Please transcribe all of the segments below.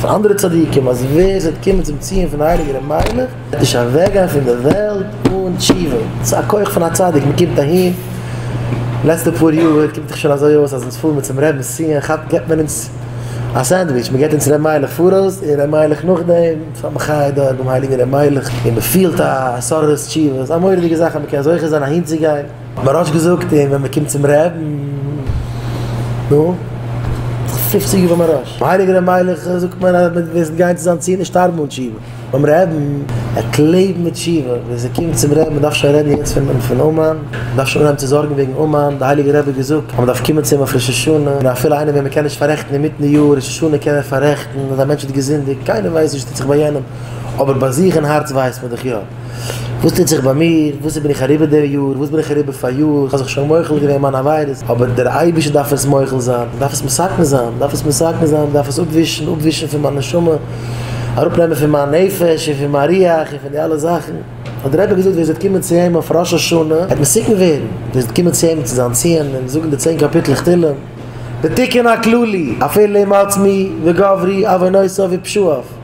זאגן פון אנדערע צדיקים אז ווער עס וועט קומען צום ציון פון די הייליגע רבי'ן וועט נישט אוועקגיין פון די וועלט אן תשובה, ס'איז א כח פון א צדיק, מען קומט אהין, לעצטע פאר יאר קומט דאך שוין אזוי אויס אז אונז פארן מיר צום רבינ'ס ציון כאפ געבט מען אונז א סענדוויטש, מען געבט אונז ר' מיילעך פאראויס און ר' מיילעך נאכדעם, ס'איז א מחיה דארט ביים הייליגן ר' מיילעך און מען פילט א סארא תשובה, ס'איז א מורא'דיגע זאך אז מען קען זוכה זיין אהין צו גיין. בראש געזאגט און ווען מען קומט צום רעדן נו פופציג איבער בראש הייליגער ר' מיילעך זאגט מען אז מען וועסט גיין צו זיין צי נישט שטארבן אן תשובה ביים רעדן ער קען לעבן מיט תשובה ווען ס'קומט צום רעדן מען דארף שוין רעדן יעצט פון פון אומאן מען דארף שוין אנהייבן צו זארגן וועגן אומאן די הייליגער רבי געזאגט אז מען דארף קומען צו אים אויף ראש השנה און אפילו איינער וועם מען קען נישט פארעכטן אינמיטן יאר ראש השנה קען ער פארעכטן אז א מענטש האט געזינדיגט קיינער ווייסט נישט וואס טוט זיך ביי יענעם אבער ביי זיך אין הארץ ווייסט מען דאך יא. וואס טוט זיך ביי מיר? וואס בין איך אריבער די יאר? וואס בין איך אריבער פאריאר? איך האב זיך שוין מוחל געווען מיינע עבירות, אבער דער אייבערשטער דארף עס מוחל זיין, איך דארף עס מסכן זיין, איך דארף עס מסכן זיין, איך דארף עס אפווישן, אפווישן פון מיין נשמה, אראפנעמען פון מיין נפש און פון מיין ריח און פון די אלע זאכן. האט דער רבי געזאגט, ווער עס וועט קומען צו אים אויף ראש השנה וועט מסוכן ווערן, ווער עס וועט קומען צו אים צו זיין ציון און זאגן די צען קאפיטלעך תהילים, די תיקון הכללי, אפילו עם עצמי וגברי עוונותיו ופשעיו.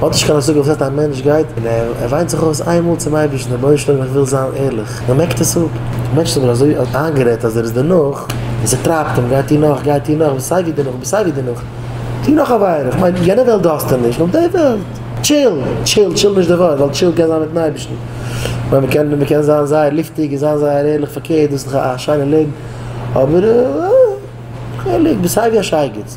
האט נישט קיין השגה וואס הייסט א מענטש גייט און ער וויינט זיך אויס איין מאל צום אייבערשטן רבונו של עולם איך וויל זיין ערליך מען מעקט עס אפ, דער מענטש איז אבער אזוי איינגערעדט אז ער איז דערנאך און ס'טרייבט אים גיי טו נאך גיי טו נאך סיי ווי דערנאך סיי ווי דערנאך טו נאך עבירה איך מיין יענע וועלט דארפסטו נישט נאר די וועלט טשיל טשיל טשיל נישט די ווארט ווייל טשיל קען זיין מיטן אייבערשטן ווייל מען קען מען קען זיין זייער לופטיג און זיין זייער ערליך פארקערט דאס איז דאך א שיינע לעבן אבער אה חלק סיי ווי א שייגעץ.